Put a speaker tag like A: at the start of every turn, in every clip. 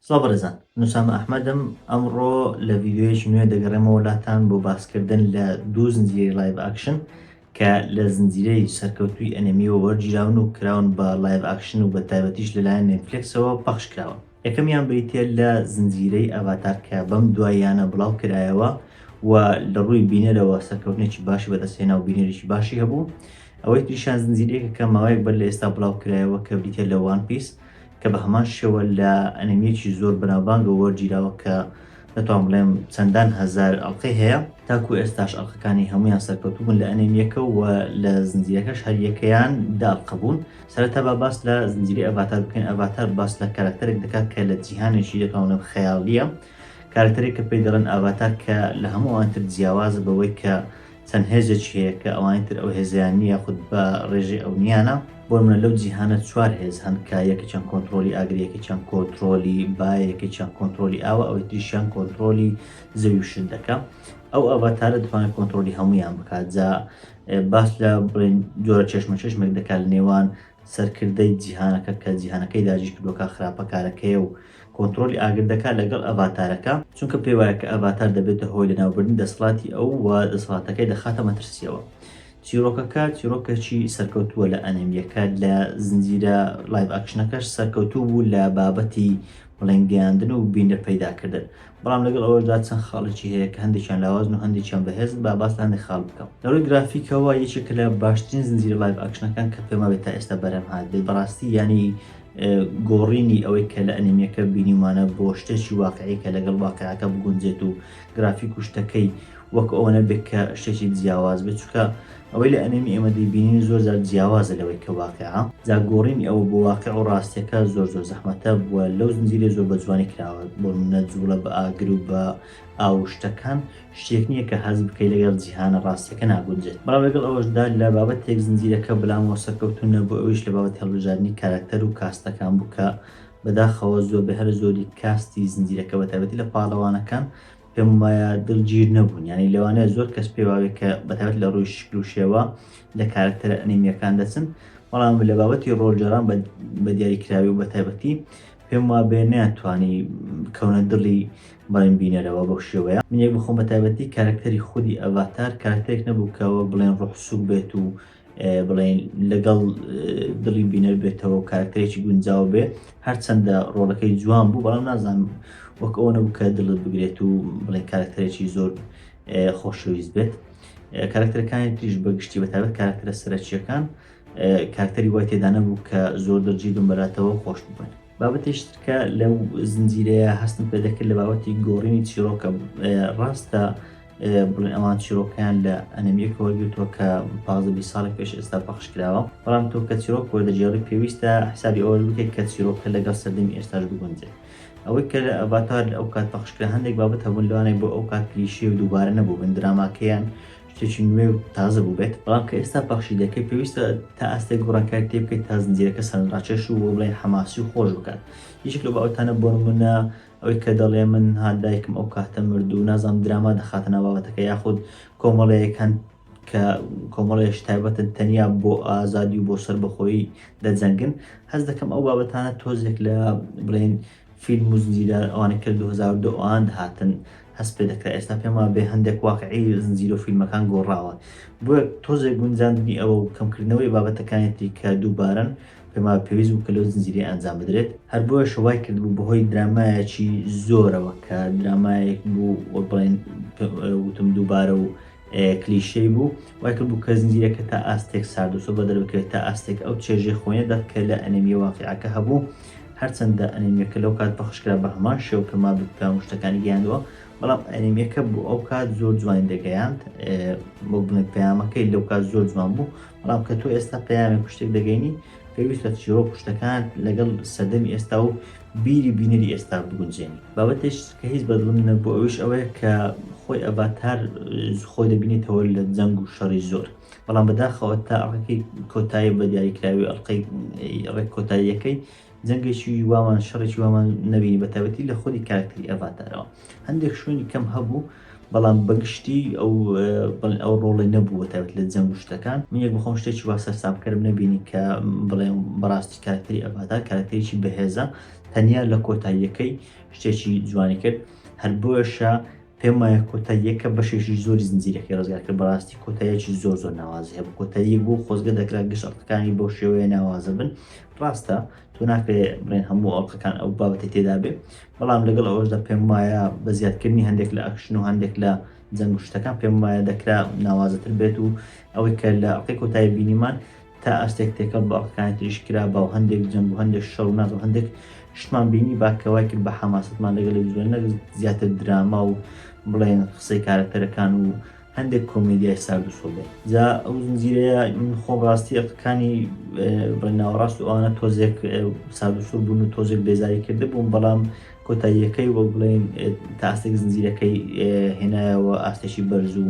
A: سڵاو بەڕێزان نوسامە ئەحمەدم ئەمڕۆ لە ڤیددیوەیەکی نوێ دەگەڕێمەوە لاتان بۆ باسکردن لە دوو زنجیرەی لایڤ ئاکشن کە لە زنجیرەی سەرکەوتوی ئەنمیەوە وەرگیراون و کراون بە لایڤ ئاکشن و بە تایبەتیش لەلایەن نێتفلکسەوە پەخش کراون یەکەمیان بریتیە لە زنجیرەی ئەڤاتار کە بەم دواییانە بڵاو کرایەوە و لە ڕووی بینەرەوە سەرکەوتنێکی باشی بەدەستێنا و بینەرێکی باشی هەبوو ئەوەی تریشان زنجیرەیەکە کە ماوەیەک بەر لە ئێستا بڵاو کرایەوە کە بریتە لە وان پیس کە بە هەمان شێوە لە ئەنمیەکی زۆر بەناوبانگە وەرگیراوە کە دەتوانم بڵێم چەندان هەزار ئەڵقەی هەیە، تاکو ئێستاش ئەڵقەکانی هەموویان سەرکەوتوو بوون لە ئەنێمییەکە و لە زنجیرەکەش هەر یەکەیان دە ئەڵقە بوون. سەرەتا با باس لە زنجیرەی ئەڤاتار بکەین، ئەڤاتار باس لە کارەکتەرێک دەکات کە لە جیهانێکی دەتوانم بڵێم خەیاڵییە، کارەکتەرێک کە پێی دەڵێن ئاڤاتار کە لە هەموو ئەوانتر جیاوازە بەوەی کە چەند هێزێکی هەیە کە ئەوانی تر ئەو هێزەیان نییە یاخود بە ڕێژەی ئەونییانە، بۆ نمونە لەو جیهانە چوار هێز هەن کە یەکێکیان کۆنتڕۆڵی ئاگرە یەکێکیان کۆنتڕۆلی بایە یەکێکیان کۆنتڕۆلی ئاوە ئەوەی تریشیان کۆنتڕۆلی زەوی و شت دەکا ئەو ئەڤاتارە دەتوانێت کۆنتڕۆلی هەموویان بکات جا باس لە بڵێن جۆرە چێشمە چێشمێک دەکات لە نێوان سەرکردەی جیهانەکە کە جیهانەکەی داگیر کردووە کە خراپەکارەکەیە و کۆنترۆلی ئاگر دەکات لەگەڵ ئەڤاتارەکە، چونکە پێی وایە کە ئەڤاتار دەبێتە هۆی لەناوبردنی دەسەڵاتی ئەو و دەسەڵاتەکەی دەخاتە مەترسییەوە. چیرۆکەکە چیرۆکێکی سەرکەوتووە لە ئەنێمییەکە، لە زنجیرە لایڤ ئاکشنەکەش سەرکەوتوو بوو لە بابەتی بڵێن گەیاندن و بینەر پەیداکردن. بەڵام لەگەڵ ئەوەشدا چەند خاڵێکی هەیە کە هەندێکیان لاوازن و هەندێکیان بەهێزن، با باس لە هەندێک خاڵ بکەم. لە ڕووی گرافیکەوە یەکێکە لە باشترین زنجیرە لایڤ ئاکشنەکان کە پێم وابێت تا ئێستا بەرهەم هاتبێت، بەڕاستی یانی گۆڕینی ئەوەی کە لە ئەنیمیەکە بینیومانە بۆ شتێکی واقعی کە لەگەڵ واقیعەکە بگونجێت و گرافیک و شتەکەی وەک ئەوە نەبێت کە شتێکی جیاواز بێت چونکە ئەوەی لە ئەنێمی ئێمە دەیبینین زۆر جار جیاوازە لەوەی کە واقعە جا گۆڕینی ئەوە بۆ واقع و ڕاستیەکە زۆر زۆر زەحمەتە بووە لەو زنجیرە زۆر بە جوانی کراوە بۆ منە جوڵە بە ئاگر و بە ئاوشتەکان شتێک نییە کە هەز بکەی لەگەڵ جیهانە ڕاستیەکە ناگونجێت بەڵام لەگەڵ ئەوەشدا لە بابەت تێک زنجیرەکە بلامەوە سەرکەوتون نەبوو ئەویش لە بابەت هەڵبژاردننی کارکتەر و کاستەکان بوو کە بەداخەوە زۆر بە هەر زۆری کاستی زنجیرەکە بەتابەتی لە پاڵەوانەکان پێم وایە دڵگیر نەبوون یانی لەوانەیە زۆر کەس پێواوێ کە بەتابەت لە ڕووی شکل و شێوە لە کارکتەرە ئەنیمیەکان دەچن بەڵام لە بابەتی ڕۆلجەران بە دیاری کراوی و بەتابەتی پێم وا بێ ناتوانی کەونە دڵی بەڵێن بینەرەوە بەو شێوەیە منێک بخۆم بەتابەتی کارکتەری خودی ئەڤاتار کارکتێک نەبوو کە وەک بڵێن ڕۆحسوک بێت و بڵێین لەگەڵ دڵی بینەر بێتەوە و کارکتەرێکی گونجاو بێ هەرچەندە ڕۆڵەکەی جوان بوو بەڵام نازانم وەک ئەوە نەبوو کە دڵت بگرێت و بڵێ کارکتەرێکی زۆر خۆشەویست بێت کارکتەرەکانی تریش بەگشتی بەتابەت کارکتەرە سەرەکیەکان کارکتەری وای تێدانە بوو کە زۆر دەرجی بمبەراتەوە خۆش ببن بابەتێکی ترکە لەو زنجیرەیە هەستم پێ دەکرد لە بابەتی گۆڕینی چیرۆکە ڕاستە بڵێن ئەوان چیرۆکیان لە ئەنەمیەکەوە گرتووە کە پازە بی ساڵی پێش ئێستا پەخش کراوە بەڵام تۆ کە چیرۆک وەردەجێڕی پێویستە حسابی ئەوەش بکەیت کە چیرۆکە لەگەڵ سەردەمی ئێستاش بگونجێت ئەوەی کە لە ئەڤاتار ئەو کات پەخشکرا هەندێک بابەت هەبوون لەوانەیە بۆ ئەو کات کلیشەیە و دووبارە نەبوو بن دراماکەیان شتێکی نوێ و تازە بووبێت، بەڵام کە ئێستا پەخشی دەکەیت پێویستە تا ئاستێک گۆڕانکاری تێبکەیت تا زنجیرەکە سەرنجڕاکێش و وەک بڵێین حەماسی و خۆش بکات یەکێک لەو بابەتانە بۆنموونە ئەوەی کە دەڵێ من ها دایکم ئەو کاتە مرد و نازانم دراما دەخاتە ناو بابەتەکە یاخود کۆمەڵەیەک هەن کە کۆمەڵەیەش تایبەتن تەنیا بۆ ئازادی و بۆ سەربەخۆیی دەجەنگن هەست دەکەم ئەو بابەتانە تۆزێک لە بڵێین فیلم و زنجیرە ئەوانەی کە لە دوو هەزار و دە ئەوان هاتن هەست پێ دەکرا ئێستا پێم وابێ هەندێک واقعی زنجیرە و فیلمەکان گۆڕاوە بۆیە تۆزێک گونجاندنی ئەوە و کەمکردنەوەی بابەتەکانی تری کە دووبارەن پێم وابێ پێویست بوو کە لەو زنجیرەیە ئەنجام بدرێت هەر بۆیەشە وای کردبوو بەهۆی درامایەکی زۆرەوە کە درامایەک بوو وەک بڵێین وتم دووبارە و کلیشەی بوو، وای کردبوو کە زنجیرەکە تا ئاستێک سارد و سووربەدەر بکرێت، تا ئاستێک ئەو چێژەی خۆینە دەخت کە لە ئەنێمییە واقیعەکە هەبوو، هەرچەندە ئەنێمییەکە لەو کات پەخش کرا بە هەمان شێوە کە مابی کاون شتەکانی گەیاندووە، بەڵام ئەنێمییەکە بۆ ئەو کات زۆر جوانی دەگەیاند، وەک بڵێین پەیامەکەی لەو کات زۆر جوان بوو، بەڵام کە تۆ ئێستا پەیامێک و شتێک دەگەینی، پێویستە چیڕۆک و شتەکانت لەگەڵ سەردەمی ئێستا و بیری بینەری ئێستا بگونجێنی. بابەتێش کە هیچ بە دڵم نەبوو ئەویش ئەوەیە کە خۆی ئەڤاتار خۆی دەبینێتەوە لە جەنگ و شەڕی زۆر بەڵام بەداخەوە تا ئەڕەکەی کۆتایی بە دیاریکراوی ئەڵلقەی ڕێک کۆتاییەکەی جەنگێکی وامان شەڕێکی وامان نەبینی بە تایبەتی لە خۆدی کارکتەری ئەڤاتارەوە. هەندێک شوێنی کەم هەبوو بەڵام بەگشتی ئەو بڵێن ئەو ڕۆڵی نەبووە تابێت لە جەنگ و شتەکان من یەک بخۆم شتێکی وا سەرسامکەرم نەبینی کە بڵێم بەڕاستی کارکتری ئەڤاتار کارکتریی بەهێزە تەنیا لە کۆتاییەکەی شتێکی جوانی کرد هەر بۆشە پێم وایە کۆتا یەکە بەشێکی زۆری زنجیرەکەی ڕزگار کرد بەڕاستی کۆتایەکی زۆر زۆر ناوازی هەبوو کۆتایی بۆ خۆزگە دەکرا گشت ئەڵقەکانی بۆ شێوەیە ناوازە بن ڕاستە تۆ ناکرێ بڵێن هەموو ئەڵقەکان ئەو بابەتی تێدا بێ بەڵام لەگەڵ ئەوەشدا پێموایە بە زیادکردنی هەندێک لە ئەکشن و هەندێک لە جەنگ و شتەکان پێموایە دەکرا ناوازەتر بێت و ئەوەی کە لە ئەڵقەی کۆتایی بینیمان تا ئاستێک تێکەڵ بە ئەڵقەکانی تریش کرا با و هەندێک جەنگ و هەندێک شەڕ و نازم هەندێک شتمان بینی با کە وای کرد بە حەماسەتمان لەگەڵی بزوێنە زیاتر دراما و بڵێن قسەی کارەکتەرەکان و هەندێک کۆمێدیای سارد و سۆبر جا ئەو زنجیرەیە من خۆم ڕاستی ئەقەکانی بە ناوەڕاست و ئەوانە تۆزێک سارد و سۆر بوون و تۆزێک بێزاری کرده بووم بەڵام کۆتاییەکەی وەک بڵێن تاستێک زنجیرەکەی هێنایەوە ئاستێکی بەرز و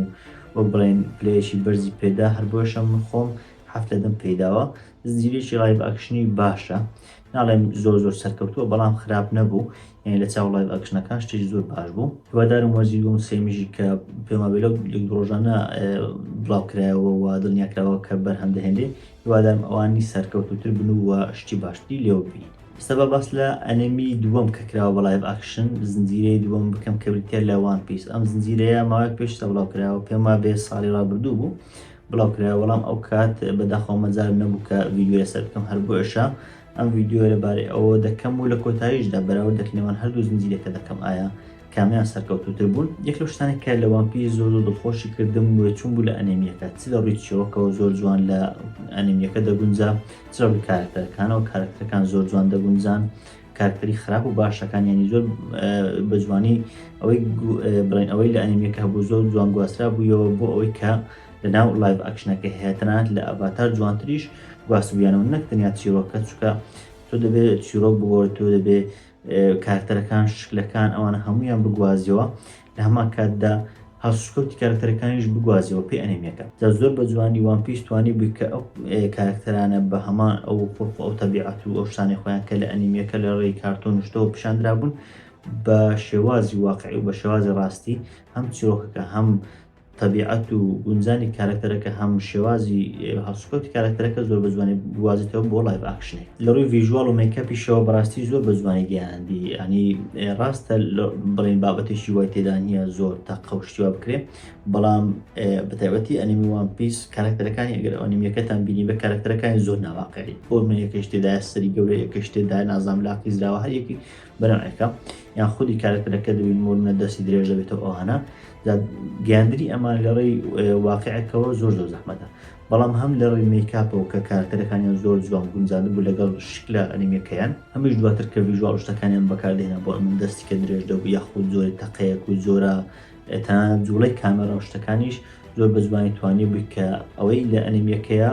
A: وەک بڵێن پلەیەکی بەرزی پێدا هەر بۆیشە من خۆم هەفت لە دەم پێداوە زنجیرێکی ڕایڤ ئەکشنی باشە ناڵێم زۆر زۆر سەرکەوتووە بەڵام خراپ نەبوو یعنی لە چاو ڵایڤ ئەکشنەکان شتێکی زۆر باش بوو هیوادارم وەرزی دووەم و سێمیشی کە پێما بێ لەو لێک ڕۆژانە بڵاو کرایەوە و دڵنیا کراوە کە بەرهەم دەهێنێ هیوادارم ئەوانی سەرکەوتووتر بن و وە شتی باشتری لێوە ببینین ئێستا با باس لە ئەنێمی دووەم کە کراوە بە ڵایڤ ئاکشن زنجیرەی دووەم بکەم کە بریتییە لە وان پیس ئەم زنجیرەیە ماوەیەک پێشتر بڵاو کراوە پێما بێ ساڵی ڕابردوو بوو بڵاو کرایە وەڵام ئەو کات بە داخەوە مەجالم نەبوو کە ڤیدیۆ لەسەر بکەم هەر بۆیەشە ئەم ڤیدیۆ لە بارەی ئەوە دەکەم و لە کۆتاییشدا بەراوردەک نێوان هەردوو زنجیرەکە دەکەم ئایا کامیان سەرکەوتوتر بوون یەک لەو شتانە کە لە وان پیس زۆر زۆر دڵخۆشی کردم و چون بوو لە ئەنێمیەکە چ لە ڕووی چیرۆکەوە زۆر جوان لە ئەنێمیەکە دەگونجا چ لە ڕووی کارەکتەرەکانەوە کارەکتەرەکان زۆر جوان دەگونجان کارکەری خراپ و باشەکان ینی زۆر بە جوانی ئەوەی بڵێن ئەوەی لە ئەنیمەکە هەبوو زۆر جوان گواسترا بوویەوە بۆ ئەوەی کە لە ناو لایڤ ئەکشنەکە هەیەتەنات لە ئەڤاتار جوانتریش گواستبیانەوە نەک تەنیا چیرۆکە چکە تۆ دەبێت چیرۆک بگۆڕ تۆ دەبێت کارتەرەکان شکلەکان ئەوانە هەمویان بگوازیەوە لە هەمان کاتدا هەڵسوکەوتی کارەکتەرەکانیش بگوازیەوە پێ ئەنیمیەکە جا زۆر بە جوانی وان پیس توانیبوی کە ئەو کارەکتەرانە بە هەمان ئەو خولق و ئەو تەبیعەت و ئەو شتانەی خۆیان کە لە ئەنیمیەکە لە ڕێی کارتۆن و شتەوە پیشاندرابوون بە شێوازی واقعی و بە شێوازی ڕاستی هەم چیرۆکەکە هەم تەبیعەت و گونجانی کارەکتەرەکە هەم شێوازی هەڵسوکەوتی کارەکتەرەکە زۆر بە جوانی بگوازیتەوە بۆ لایڤ ئاکشنێک لە ڕووی ڤیژوال و مێکەپیشەوە بەڕاستی زۆر بە جوانی گەیاندی ینی ڕاستە بڵین بابەتێکی وای تێدا نییە زۆر تا قەوشتیوا بکرێ بەڵام بەتایبەتی ئەنیمی وان پیس کارەکتەرەکانی ئەگەر ئەنیمیەکەتان بینی بە کارەکتەرەکانی زۆر ناواقعی ئۆرمەیەکەش تێدا سەری گەورەیەکەش تێدا نازام لاقی زراوە هەریەکی بەناو ئەرکە یان خودی کارەکتەرەکە دەبین مۆرنە دەستی درێژ دەبێتەوە ئەوهانە گەاندری ئەمان لەڕێی واقعەکەەوە زۆر زۆر زەحمەتە بەڵام هەم لە ڕێی میکاپەوە کە کارکتەرەکانیان زۆر جوان گونجان بوو لەگەڵ شکلە ئەنیمەکەیان هەمیش دواتر کە ویژوال شتەکانیان بەکاردێنە بۆ ئەمن دەستی کە درێژ دەبوو یاخود زۆری تەقەیەک و زۆرە تا جوڵی کامەرە شتەکانیش زۆر بە زمانی توانی بووی کە ئەوەی لە ئەنیمیەکەیە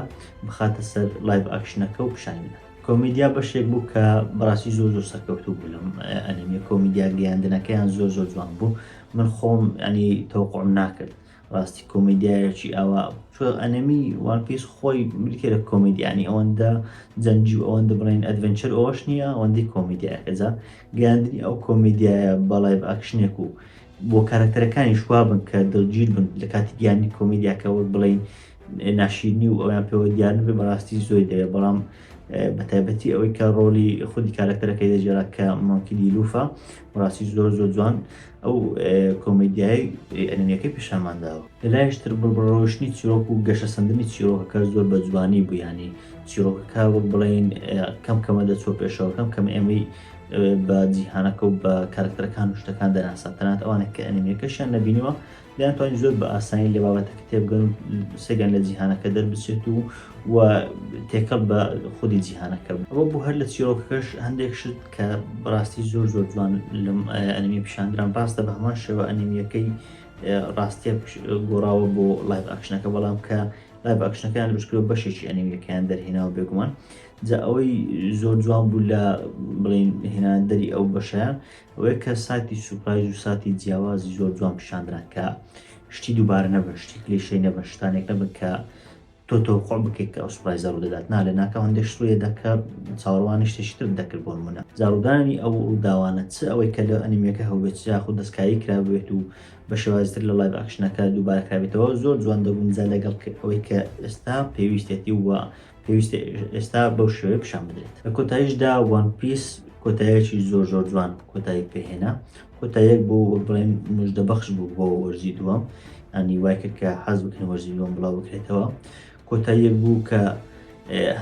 A: بخاتە سەر لایڤ ئاکشنەکە و پیشانە کۆمیدیا بەشێک بوو کە بەڕاستی زۆر زۆر سەرکەوتوو بوو لەم ئەنیمیە کۆمیدیا گەیاندنەکەیان زۆر زۆر جوان بوو من خۆم ئەنی تەوقعم ناکرد ڕاستی کۆمیدیایەکی ئاوا چۆ ئەنەمی وان پیس خۆی بریتێ لە کۆمیدیانی ئەوەندە جەنگی و ئەوەندە بڵێن ئەدڤنچەر ئەوەش نییە ئەوەندەی کۆمیدیایەکە جا گەیاندنی ئەو کۆمیدیایە بەڵێ ئەکشنێک و بۆ کارەکتەرەکانی شوابن کە دڵگیر بن لە کاتی گیانی کۆمیدیاکە وەک بڵین ناشیرنی و ئەویان پێوە دیار نەبێت بەڕاستی زۆری دەوێت بەڵام بەتایبەتی ئەوەی کە ڕۆلی خودی کارەکتەرەکەی دەجێرا کە مۆنکیدی لوفە بەڕاستی زۆر زۆر جوان ئەو کۆمەدیای ئەنمیەکەی پیشامان داوە لەلایشتر بڕبڕۆشتنی چیرۆک و گەشە سندنی چیرۆکەکە زۆر بە جوانی بوویانی چیرۆکەکە وەک بڵین کەم کەمە دەچۆ پێشەوە کەم کەم ئێمەی بە جیهانەکە و بە کارکتەرەکان و شتەکان دەناسە تەنات ئەوانە کە ئەنمیەکەشیان نبینیوە دەیانتوانی زۆر بە ئاسانی لە بابەتەکە تێبگەن و سەیریان لە جیهانەکە دەربچێت و و تێکەڵ بە خودی جیهانەکە بن. ئەوە بوو هەر لە چیرۆکەکەش هەندێک شت کە بەڕاستی زۆر زۆر جوان لەم ئەنیمیە پیشاندران، ڕاستە بە هەمان شێوە ئەنیمیەکەی ڕاستیە گۆڕاوە بۆ لایڤ ئاکشنەکە بەڵام کە لایڤ ئاکشنەکەیان دروستکرد و بەشێکی ئەنیمیەکەیان دەرهێناوە بێگومان جا ئەوەی زۆر جوان بوو لە بڵین هێناندەری ئەو بەشیان ئەوەیە کە ساتی سوپرایز و ساتی جیاوازی زۆر جوان پیشاندران کە شتی دووبارە نەبن، شتی کلیشەی نەبن، شتانێک نەبن کە تۆ تەوەقوع بکەیت کە ئەو سوپرایزە ڕوودەدات، نا لەناکاو هەندێک شت ڕوویەدا کە چاوەڕوانی شتێکی ترت دەکرد بۆ نموونە جاڕوودانی ئەو ڕووداوانە چ ئەوەی کە لە ئەنیمیەکە هەبووبێت چ یاخود دەستکاری کرابووبێت و بە شێوازی تر لە لایڤ ئاکشنەکە دووبارە کرابێتەوە زۆر جوان دەبوون جا لەگەڵ ئەوەی کە ئێستا پێویستێتی و پێویستە ئێستا بەو شێوەیە پیشان بدرێت لە کۆتاییشدا وان پیس کۆتایەکی زۆر زۆر جوان کۆتایی پێهێنا کۆتایەک بۆ بڵێن مژدە بەخش بوو بۆ وەرزی دووەم ئەنی وای کرد کە حەز بکەن وەرزی دووەم بڵاو بکرێتەوە کۆتاییەک بوو کە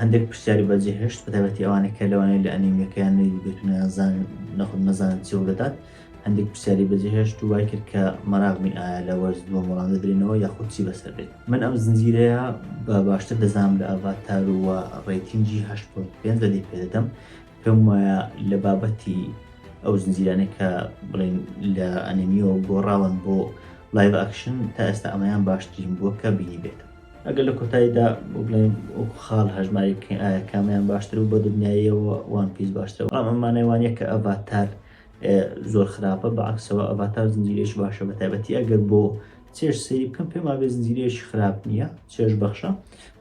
A: هەندێک پرسیاری بەجێ هێشت بەتابەتی ئەوانە کە لەوانەیە لە ئەنیمیەکەیان نەیدیبێت و نازان نەخود نەزانن چێ دەدات هەندێک پرسیاری بەجێهێشت و وای کرد کە مەراقمی ئایا لە وەرز دووەم وەڵام دەدرێنەوە یاخود چی بەسەر بێت من ئەم زنجیرەیە بە باشتر دەزانم لە ئەڤاتار و ڕێتینجی 8.5 لە دی پێدەدەم پێم وایە لە بابەتی ئەو زنجیرانە کە بڵین لە ئەنیمیەوە گۆڕاون بۆ لایڤ ئەکشن تا ئێستا ئەمەیان باشترین بووە کە بینی بێت ئەگەر لە کۆتاییدا بڵێن خاڵ هەژماری کامیان باشتر و بە دنیایەوە وان پیس باشترەوە ئەمانەوانە کە ئەڤاتار زۆر خراپە بە عەکسەوە ئەڤاتار زنجیرەیەکی باشە بەتایبەتی ئەگەر بۆ چێژ سەیری بکەم پێم وابێ زنجیرەیەکی خراپ نییە چێژ بەخشە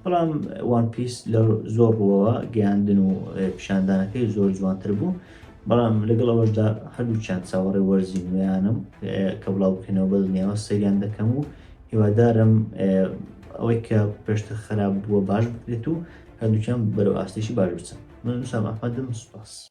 A: بەڵام وان پیس لە زۆر ڕوەوە گەیاندن و پیشاندانەکەی زۆر جوانتر بوو بەڵام لەگەڵ ئەوەشدا هەردووچیان چاوەڕێ وەرزی نوێیانم کە بڵاو بکەنەوە بە دنیاوە سەیریان دەکەم و هیوادارم ئەوەی کە پێشتر خراپ بووە باش بکرێت و هەردووچیان بەرەو ئاستێکی باش بچن من نووسام ئەحمەدم سوپاس